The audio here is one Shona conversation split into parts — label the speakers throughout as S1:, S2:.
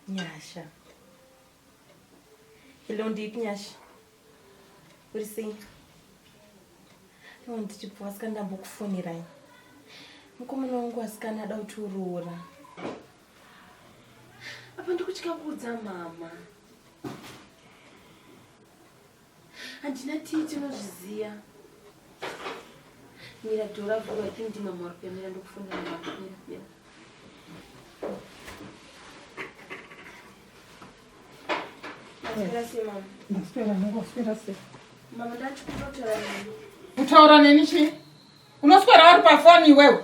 S1: Nyasha. Hello, Deep Nyasha. What is it? I want to go ask and book phone right. Mkomana wangu asikana ada kuti uroora. Apa ndikutya kuudza mama. Handina tii tinozviziva. Mira dora vhura I think ndimama vari kuyamira ndokufunda mira mira. Ndaswera
S2: hangu waswera sei? Mama
S1: ndati kutotaura neni. Kutaura neni
S2: chii? Unoswera uri pafoni iwewe.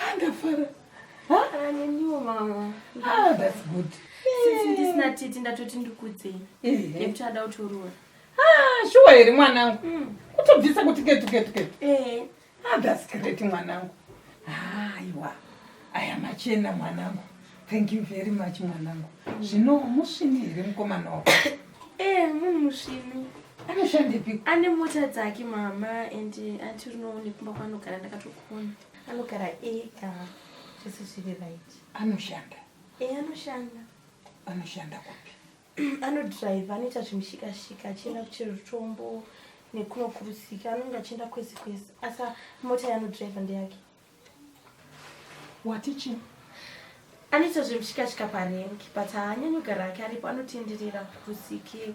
S2: Ah, ndafara ah,
S1: neniwo mama ah, that's good
S2: since ndisina
S1: titi ndatoti ndikudzei nekuti ada kutoroora shuwa
S2: here mwanangu hmm. kutobvisa kuti ketuketuketu eh. that's great mwanangu aiwa aya machena mwanangu thank you very much mwanangu zvino musvini here mukomana wako Eh, munhu
S1: musvinu. Anoshandepi?
S2: Ane mota
S1: dzake mama and anti unoone kumba kwanogara ndakatokona. Anogara ega. Zvese zviri right. Anoshanda.
S2: Eh, anoshanda.
S1: Anoshanda
S2: kupi? anodrive
S1: anoita zvimushikashika achienda kuchirutombo nekunokurusika anonge achienda kwese kwese asi mota yaanodrive ndeyake wati
S2: chii
S1: anoita zvemushikashika parengi but haanyanyi kugara ake aripo anotenderera kusike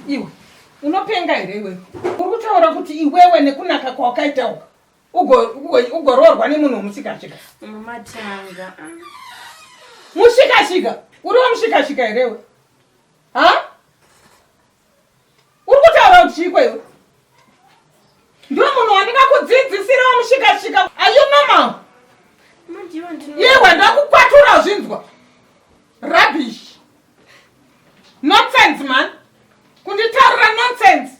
S2: iwe unopenga here iwewe uri kutaura kuti iwewe nekunaka kwawakaita uka ugoroorwa nemunhu wemushikashika mumatanga mushikashika uriwo mushikashika herewe ha Uri kutaura kuti chiiko iwe? Ndiwe munhu wandingakudzidzisira wamushikashika. Are you normal? Iwe ndakukwatura zvinzwa. Rubbish. Nonsense man. Kunditarira nonsense.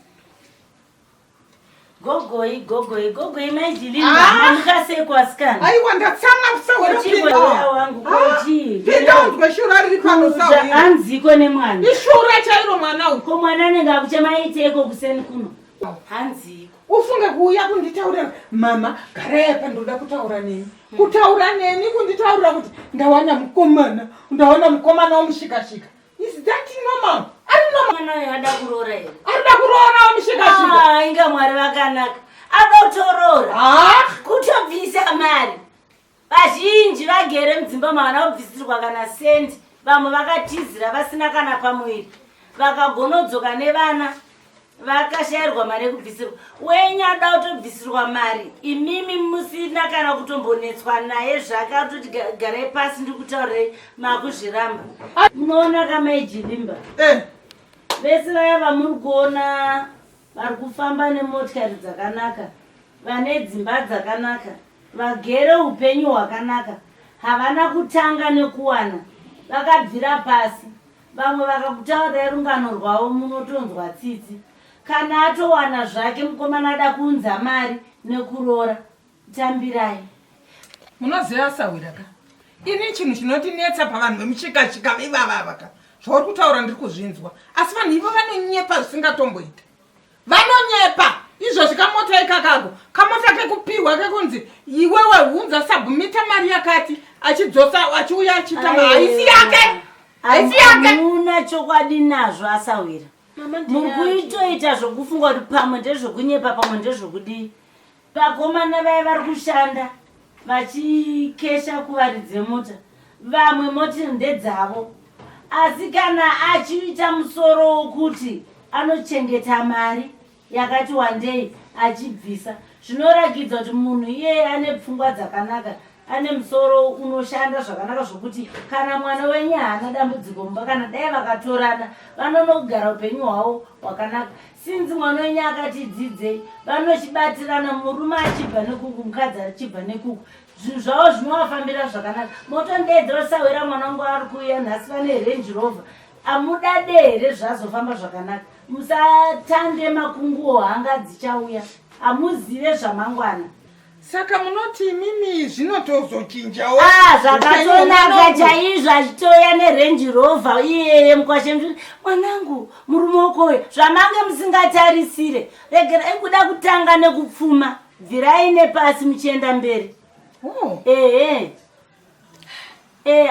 S3: Gogoi, gogoi, gogoi mai Jilima. Ah! Amuka sei kwasikana? Aiwa ndatsamwa
S2: kusahwira Chii kupinda. mwana wangu
S3: ko Ah, chii? Pinda unzwe shura
S2: riri pano Kuza sahwira. anziko nemwana.
S3: Ishura chairo mwana
S2: uyu. Ko mwana anenge akuchema
S3: iteko kuseni kuno. Hanziko. Ufunge kuuya
S2: kunditaurira mama garai apa ndoda kutaura neni. Kutaura neni kunditaurira kuti ndawana mukomana. Ndawana mukomana wamushikashika. Is that normal? Ari normal. Mwana uyu ada kuroora
S3: here? Ari da kuroora
S2: mushika shika. Ah, inga Mwari vakanaka.
S3: Ada kutoroora. Ah, kutobvisa mari. Vazhinji vagere mudzimba mavana kubvisirwa kana sendi. Vamwe vakatizira vasina kana pamuviri. Vakagonodzoka nevana vakashairwa mari yekubvisirwa wenyu ada kutobvisirwa mari imimi musina kana kutombonetswa naye zvake atoti garai pasi ndiri kutaurei makuzviramba munoona kamaijivimba eh. vese vaya vamuri kuona vari kufamba nemotikari dzakanaka vane dzimba dzakanaka vagere upenyu hwakanaka havana kutanga nekuwana vakabvira pasi Vamwe vakakutaurirai rungano rwavo munotonzwa tsitsi. Kana atowana zvake mukomana ada kuunza mari nekuroora. Tambirai.
S2: Munoziva sahwira ka. Ini chinhu chinotinetsa pavanhu vemuchikachika ivavava ka. Zvauri kutaura ndiri kuzvinzwa. Asi vanhu ivo vanonyepa zvisingatomboita. vanonyepa izvozvi kamota ikakago kamota kekupihwa kekunzi iwewe hunza sabhumita mari yakati achidzosa achiuya achiita haisi yake haisi yake hamuna chokwadi
S3: nazvo asahwira muri kuitoita zvokufunga kuti pamwe ndezvokunyepa pamwe ndezvokudii Vakomana vaya vari kushanda vachikesha kuvari dzemota vamwe moti ndedzavo asi kana achiita musoro wokuti anochengeta mari yakati wandei achibvisa zvinoragidza kuti munhu iyeye ane pfungwa dzakanaka ane musoro unoshanda zvakanaka zvokuti kana mwana wenye haana dambudziko mumba kana dai vakatorana vanonogara upenyu hwavo hwakanaka Since mwana wenyu akati dzidzei vanochibatirana murume achibva nekuku mukadzi achibva nekuku zvinhu zvavo zvinovafambira zvakanaka motondeedza osahwira mwana wangu ari kuuya nhasi vane range rover amudade here zvazofamba zvakanaka musatande makunguwo hanga dzichauya hamuzive zvamangwana Saka
S2: munoti imimi zvino tozochinjawo? Ah, zvakatonaka
S3: chaizvo achitouya neRange Rover iyeye mukwashe mzviri. Mwanangu, murume ukoyo zvamange musingatarisire. Regera ikuda kutanga nekupfuma. Bvirai nepasi muchienda mberi. Oh. Ehe. Eh,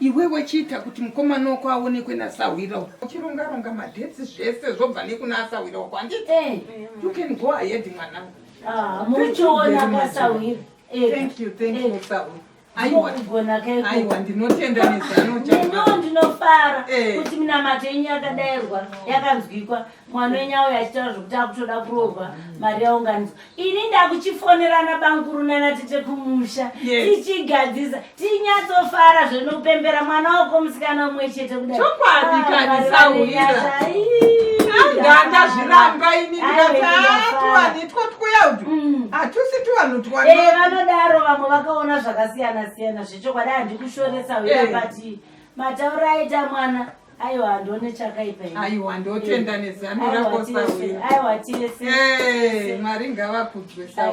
S3: iwe wechiita
S2: kuti mukomana wako aonekwe nasahwira uchirongaronga madhesi zvese zvobva nekuna asahwira wako anditi eh. you can go ahead mwana ah, muchiona
S3: pasahwira eh. thank you
S2: thank you sahwira Aiwa kugona keko. Aiwa ndinotenda nezano chako. Ndino ndinofara
S3: eh. kuti minamato yenyu yakadairwa yakanzwikwa mwana wenyu auya achitaura zvekuti akutoda kurohwa mari yaunganidzwa. Ini ndakuchifonerana bankuru nana tete kumusha tichigadzisa tinyatsofara zvinopembera mwana wako musikana umwe chete kudai. Chokwadi ah, kani
S2: sauya. Ndandazviramba ini ndikati Mm. hatusi tu vanotwanodaro eh, vamwe
S3: vakaona zvakasiyana siyana zvechokwadi handikushoresa uya eh. bati matauro aita mwana aiwa handione chakaipaaiwa ndotenda
S2: eh. nezano rakosaaiwa tese mwari
S3: ngavakudzwe
S2: sa